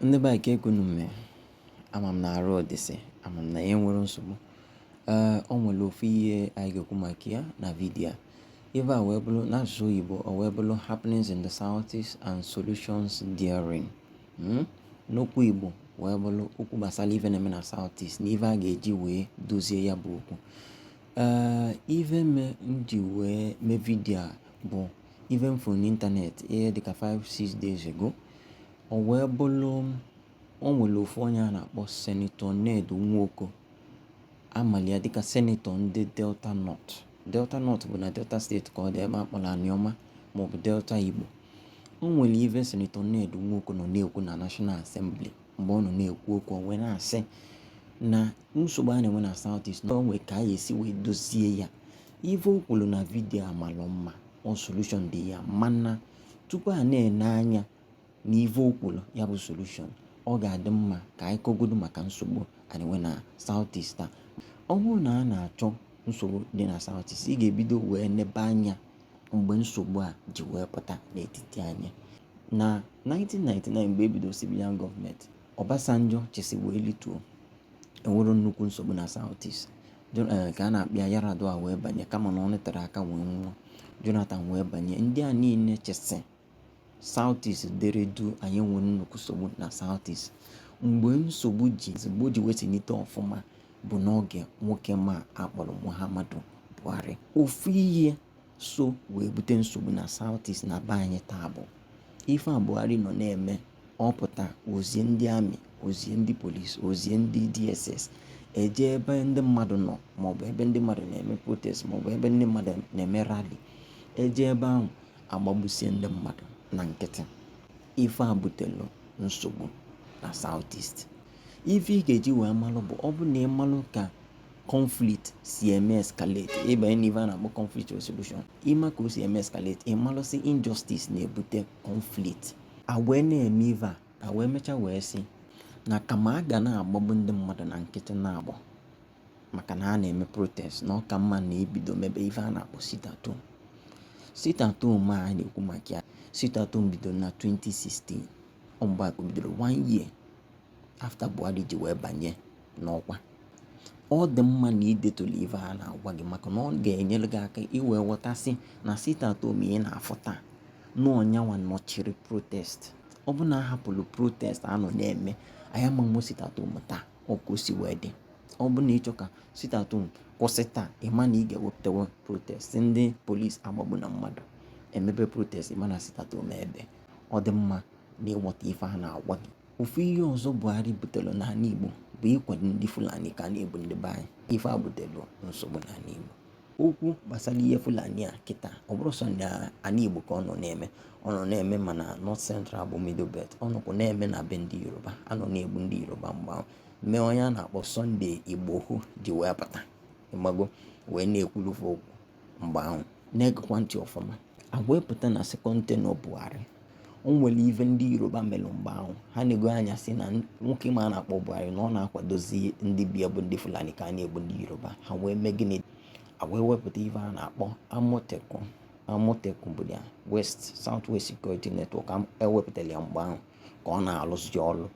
Ndị be anyị kee ka unu mee ama m na arụ dịsị ama m na ya enwero nsogbu ee o nwere ofu ihe anyị ga-ekwu maka ya na vidiyo a ife a wee bụrụ n'asụsụ oyibo o wee bụrụ happenings in the southeast and solutions therein hmm? n'okwu igbo wee bụrụ okwu gbasara ife na-eme na southeast na ife a ga-eji wee dozie ya bụ okwu Ee, ife me m ji wee mee vidio a bụ ife m fụrụ n'ịntanetị ihe dịka 5-6 days ago o wee bụrụ o nwere ofu onye a na-akpọ senetọ Ned Nwoko a malụ ya dịka senetọ ndị Delta North Delta North bụ na Delta steeti ka ọ dị ebe a kpọrọ Anioma maọbụ Delta Igbo o nwere ife senetọ Ned Nwoko nọ na-ekwu na National Assembly mgbe ọ nọ na-ekwu okwu o wee na-asị na nsogbu a na-enwe na South East na o nwe ka a ga-esi wee dozie ya ife o kwuru na vidiyo a malụ mma ọ solushon dị ya mana tupu a na-ene anya na ife o kwuru ya bụ solushon ọ ga-adị mma ka anyị kọgodu maka nsogbu a na-enwe na South East a ọ bụrụ na a na-achọ nsogbu dị na South East ị ga-ebido wee nebe anya mgbe nsogbu a ji wee pụta n'etiti anyị na 1999 mgbe e bido civilian gọọmenti Obasanjo chịsị wee lituo enwero nnukwu nsogbu na South East eh, ka a na-akpị ya Yar'Adua wee banye kama na ọ nọtero aka wee nwụọ Jonathan wee banye ndị a niine chịsị Southeast dere duu anyị enwero nnukwu nsogbu na Southeast mgbe nsogbu ji mgbe o ji wee tinite ọfụma bụ n'oge nwoke m a a kpọrọ Muhammadu Buhari ofu ihe so wee bute nsogbu na Southeast na be anyị taa bụ ife a Buhari nọ na-eme ọ pụta o zie ndị ami o zie ndị polisi o zie ndị DSS e jee ebe ndị mmadụ nọ maọbụ ebe ndị mmadụ na-eme protest maọbụ ebe ndị mmadụ na-eme rali e jee ebe ahụ a gbagbusie ndị mmadụ na nkịtị ife a butelu nsogbu na South East ife ị ga-eji wee malụ bụ ọ bụ na ị malụ ka conflict si eme escalate ị banye n'ife a na-akpọ conflict resolution ị ma ka o si eme escalate ị malụ sị injustice na-ebute conflict a wee na-eme ife a a wee mechaa wee sị na kama a ga na-agbagbu ndị mmadụ na nkịtị na-agbọ maka na a na-eme protest na ọ ka mma na e bido mebe ife a na-akpọ sit at home sit at home a na-ekwu maka ya sit at home bidoro na 2016 ọ mgbe a ka o bidoro one year after buhari ji wee banye n'ọkwa ọ dị mma na i detulu ife a na-agwa gị maka na ọ ga-enyere gị aka i wee ghọta sị na sit at home ị na-afụ taa na ọ yanwa nọchiri protest ọ bụ na a hapụrụ protest a nọ na-eme anyị ama enwe sit at home taa ọ ka o si wee dị ọ bụrụ na ị chọọ ka sit at home kwụsị taa ị ma na ị ga-ewepụtawa protest ndị polisi agbagbuna mmadụ e mebe protest ị ma na sit at home ebee ọ dị mma na ị ghọta ife a na-agwa gị ofu ihe ọzọ buhari butere n'ala igbo bụ ịkwado ndị fulani ka a na-egbu ndị be anyị ife a butere nsogbu n'ala igbo okwu gbasara ihe Fulani a kịta ọ bụrọ sọ n'ana Igbo ka ọ nọ na-eme ọ nọ na-eme ma na North Central bụ Middle Belt ọ nọkwu na-eme na be ndị Yoruba a nọ na-egbu ndị Yoruba mgbe ahụ mee onye a na-akpọ Sunday Igboho ji wee pụta ị mago wee na-ekwulu fa okwu mgbe ahụ na-egekwa ntị ọfụma a wee pụta na second tenure Buhari o nwere ive ndị yoruba mere mgbe ahụ ha enegoo anya sị na nwoke m a na-akpọ buhari na ọ na-akwadozi ndị be ya bụ ndị fulani ka a na-egbu ndị yoruba ha wee mee gịnị a wee wepụta ive a na-akpọ amotekun amotekun bụ ya west south west security network e wepụtara ya mgbe ahụ ka ọ na-alụzi ọrụ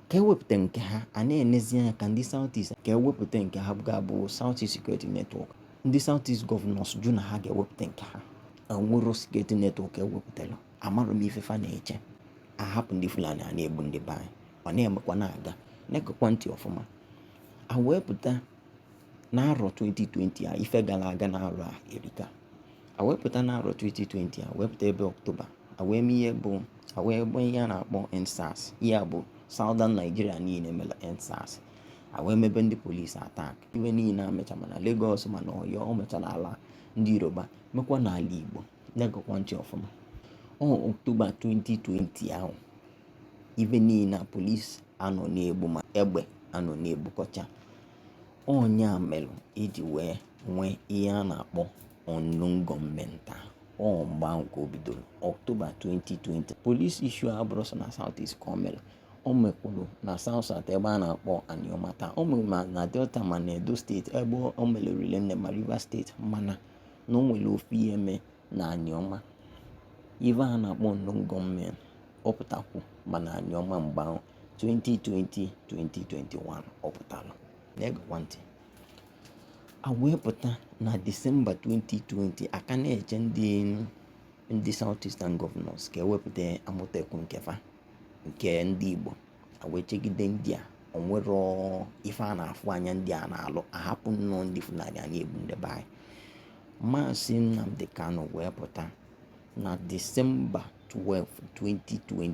ka e wepụta nke ha a na-enezi anya ka ndị south east ka e wepụta nke ha ga-abụ south east security network ndị south east governors jụ na ha ga-ewepụta nke ha o nwerọ security network e wepụtara amarọ m ife fa na-eche a hapụ ndị fulani a na-egbu ndị be anyị ọ na-emekwa na-aga na-egekwa ntị ọfụma a wee pụta na arọ 2020 a ife gara aga na arọ a erika a wee pụta na arọ 2020 a wee pụta ebe ọktoba a wee mee ihe bụ a wee gbaa ihe a na-akpọ EndSARS ihe a bụ southern nigeria niile mere EndSARS a wee mebe ndị polisi attack ibe niile emecha ma na Lagos ma na Ọyọ o mechara ala ndị Yoruba mekwa n'ala Igbo na-egekwa ntị ọfụma ọ Ọktoba 2020 ahụ ibe niile na polisi a nọ na-egbu ma egbe a nọ na-egbukọcha ọ nya mere e ji wee nwee ihe a na-akpọ unknown gunmen ọ mgbe ahụ ka o bidoro Ọktoba 2020 polisi issue abụrọ sọ na South East ka o mere o mekwuru na South South ebe a na-akpọ Aniọma taa o mere ma na Delta ma na Edo steeti ebe o mere rinne ma Rivers steeti mana na o nwere ofu ihe mee na Aniọma ife a na-akpọ unknown gunmen ọ pụtakwu ma na Aniọma mgbe ahụ 2020 2021 ọ pụtara na-egekwa ntị a wee pụta na Disemba 2020 a ka na-eche ndị ndị South Eastern Governors ka e wepụta Amotekun nke fa nke ndị Igbo wee chegide ndị a o nwerọ ife a na-afụ anya ndị a na-alụ a hapụ nnọọ ndị Fulani a na-egbu ndị be anyị Maazị Nnamdi Kanu wee pụta na Disemba 12 2020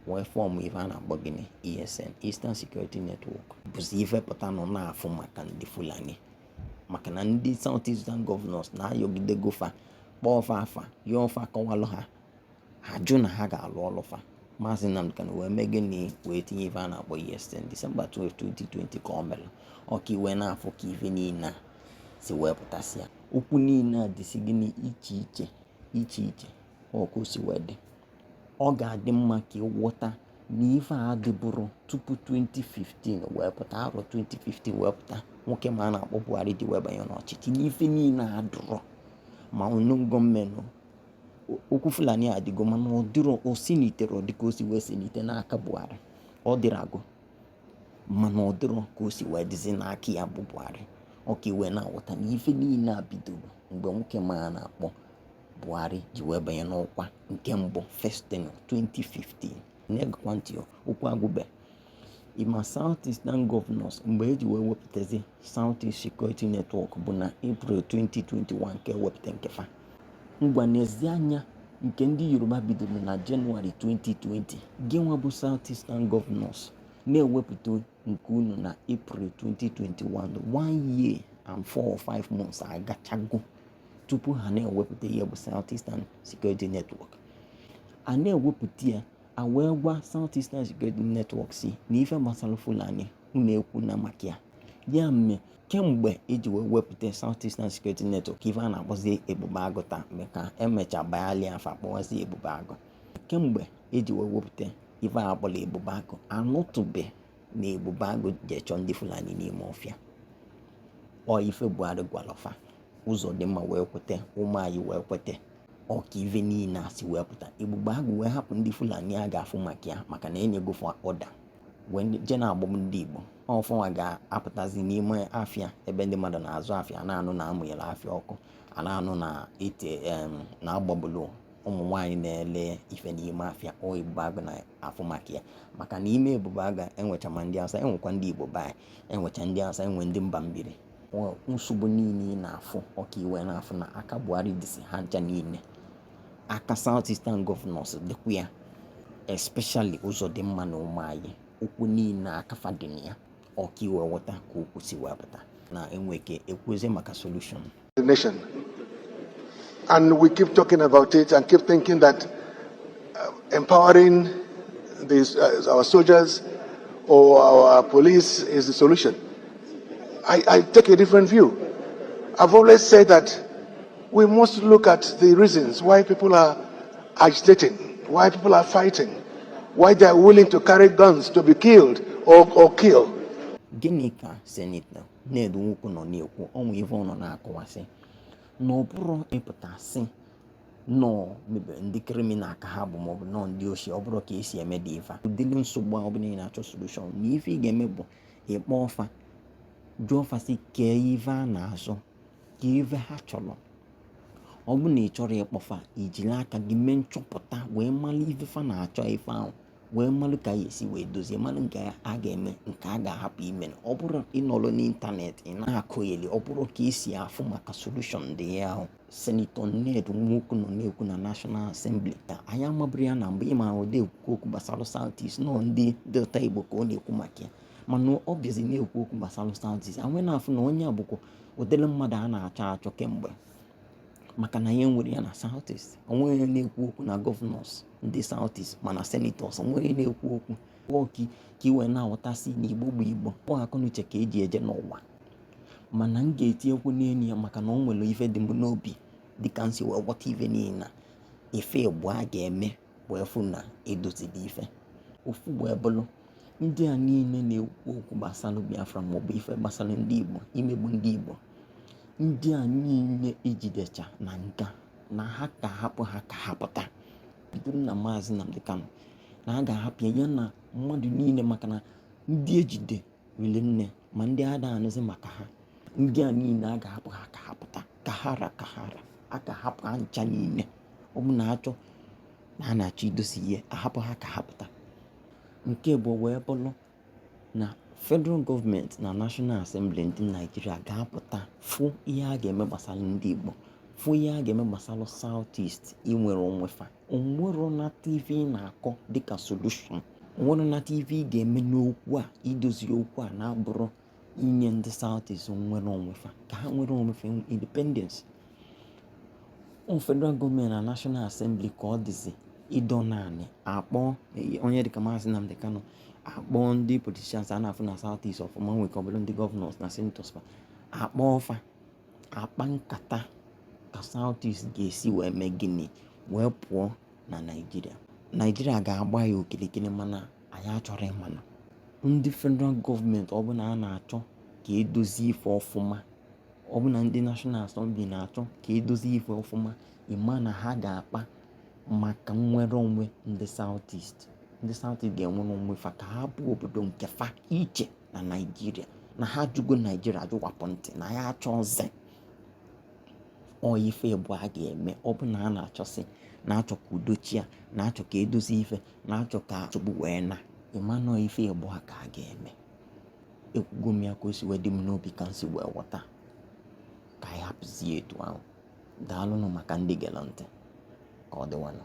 wee fọm ife a na-akpọ gịnị ESN Eastern Security Network bụzi ife pụta nọ na-afụ maka ndị Fulani maka na ndị South Eastern Governors na ayọgidego fa kpọọ fa afa yọọ fa kọwalụ ha ha jụ na ha ga-alụ ọlụ fa maazị Nnamdi Kanu wee mee gịnị wee tinye ife a na-akpọ ESN Disemba 12 2020 ka ọ mere ọ ka ị wee na-afụ ka ife niile a si wee pụtasịa okwu niile a dịsi gịnị iche iche iche iche ọ ka o si wee dị ọ ga-adị mma ka ị ghọta na ife a dịbụrụ tupu 2015 wee pụta arọ 2015 wee pụta nwoke m a na-akpọ Buhari ji wee banye n'ọchịchị n'ife niile a dịrọ ma ọnụ gọọmenti Okwu Fulani a adịgo mana ọ dịrọ o siniterọ dịka o si wee sinite n'aka Buhari ọ dịrago mana ọ dịrọ ka o si wee dịzi n'aka ya bụ Buhari ọ ka ị wee na-aghọta na ife niile a bidoro mgbe nwoke m a na-akpọ Buhari ji wee banye n'ọkwa nke mbụ first tenure 2015 na-egekwa ntị o okwu agwụbe ị ma South Eastern Governors mgbe e ji wee wepụtazi South East Security Network bụ na April 2021 nke wepụta nke fa ngwa nezie anya nke ndị Yoruba bidoro na Jenụwarị 2020 gị nwa bụ South Eastern Governors na-ewepụta nke unu na april 2021 one year and four or five months agachago tupu ha na-ewepụta ya bụ Southeastern Security Network a na-ewepụta ya a wee gwa Southeastern Security Network sị na ife gbasalụ Fulani unu ekwuna maka ya ya mee kemgbe e ji wee wepụta Southeastern Security Network ife a na-akpọzi Ebube Agụ taa mgbe ka e mecha ba yalị afa kpọwazi Ebube Agụ kemgbe e ji wee wepụta ife a kpọrọ ebube agụ a nụtụbe na ebube agụ je chọọ ndị fulani n'ime ọfịa ọ ife buhari gwalụ fa Uzodimma wee kweta Umahi wee kweta ọ ka ife niile a si wee pụta ebube agụ wee hapụ ndị fulani a ga-afụ maka ya maka na e nyego fa order wee je na-egbu ndị igbo ọ fa nwa ga-apụtazi n'ime afịa ebe ndị mmadụ na-azụ afịa na-anụ na a mụnyere afịa ọkụ a na-anụ na ite na a gbagbulu ụmụ nwaanyị na-ele ife n'ime afịa ọ ebube agụ na-afụ maka ya maka n'ime ebube agụ e nwecha ma ndị awụsa e nwekwa ndị igbo be anyị e nwecha ndị awụsa e nwee ndị mba mbiri nsogbu niile ị na-afụ ọ ka ị wee na-afụ na aka buhari dịsị ha ncha niile aka south eastern governors dịkwa ya especially Uzodimma na Umahi okwu niile aka fa dị na ya ọ ka ị wee ghọta ka okwu si wee pụta na e nwe ike ekwuzie maka solution the nation and we keep talking about it and keep thinking that uh, empowering these, uh, our soldiers or our police is the solution I, I take a different view I've always said that We must look at the reasons why people are agitating, why people are fighting, why they are willing to carry guns to be killed or, or kill. Gịnị ka Senetọ Ned Nwoko nọ na-ekwu o nwe ife ọ nọ na-akọwa sị na ọ bụrọ ịpụta sị na ọ maybe ndị kriminal ka ha bụ maọbụ na ọ ndị oshi ọ bụrọ ka e si emedi ife ụdịrị nsogbu a ọ bụrụ ị na-achọ solushọn na ife ị ga-eme bụ ịkpọ fa jụọ fa sị kee ife a na-azọ kee ife ha chọrọ ọ bụ na ị chọrọ ịkpọ fa ijiri aka gị mee nchọpụta wee malụ ife fa na-achọ ife ahụ wee malụ ka ị ya-esi wee dozie malụ nke a ga-eme nke a ga-ahapụ ime na ọ bụrọ ịnọrọ n'ịntanetị ị na-akọgheli ọ bụrọ ka e si afụ maka solushon dị ya ahụ senetọ ned nwoko nọ na-ekwu na nashọnal asembli ka anyị maburu ya na mgbe ị ma ọ dị ekwukwu okwu gbasara south east na ọ ndị delta igbo ka ọ na-ekwu maka ya mana ọ bịazi na-ekwu okwu gbasara Southeast a wee na-afụ na onye a bụkwa ụdịrị mmadụ a na-achọ achọ kemgbe maka na i were ya na Southeast o nweghị na-ekwu okwu na gọvanọs ndị Southeast ma na senetọs o nweghị na-ekwu okwu ọki ka i wee na-aghọta sị na igbo bụ igbo ọ akọnuche ka e ji eje n'ụwa mana m ga-etinyekwu n'elu ya maka na o nwere ife dị m n'obi dịka m si wee ghọta ife niile ife ịbụa a ga-eme wee fụ na e dozili ife ofu wee bụrụ ndị a niile na-ekwu okwu gbasara biafra maọbụ ife gbasara ndị igbo imegbu ndị igbo ndị a niile e jidecha na nga na a ga-ahapụ ha ka ha pụta bido na maazị Nnamdi Kanu na a ga-ahapụ ya na mmadụ niile maka na ndị e jide riri nne ma ndị a da-anụzi maka ha ndị a niile a ga-ahapụ ha ka ha pụta ka ha ra ka ha ra a ga-ahapụ ha ncha niile ọ bụ na a chọọ na a na-achọ idozi ihe a hapụ ha ka ha pụta nke ịbụa wee bụrụ na federal gọọmenti na national assembly ndị naijiria ga-apụta fụ ihe a ga-eme gbasara ndị igbo fụ ihe a ga-eme gbasara south east inwere onwe fa o nwerọ na tv na-akọ dịka solution o nwerọ na tv ga-eme n'okwu a idozi okwu a na-abụrọ inye ndị southeast nwere onwe fa ka ha nwere onwe fa independence federal gọọmenti na national assembly ka ọ dịzi ịdọ n'anị a kpọọ onye dịka maazị Nnamdi Kanu a kpọọ ndị politicians a na-afụ na southeast ọfụma nwekọ ọbụna ndị gọvanọs na senatọs a kpọọ fa akpa nkata ka Southeast ga-esi wee mee gịnị wee pụọ na Naịjirịa Naịjirịa ga-agba ya okirikiri mana anyị achọrọ ị ma na ndị federal gọọmenti ọ bụ na a na-achọ ka e dozie ife ọfụma ọ bụ na ndị National Assembly na-achọ ka e dozie ife ọfụma ị ma na ha ga-akpa maka nnwere onwe ndị Southeast ndị Southeast ga-enwere onwe fa ka ha bụ obodo nke fa iche na naijiria na ha ajụgo naijiria ajụwapụ ntị na ya achọzi ife bụ a ga-eme ọ bụ na a na-achọsị na-achọ ka udo chịa na-achọ ka e dozie ife na-achọ ka chọgbu wee na ịmanụ ife bụ a ka a ga-eme ekwugo m ya ka o si wee dị m n'obi ka m si wee ghọta ka anyị hapụzie etu ahụ daalụnụ maka ndị gere ntị ka ọ dịwanụ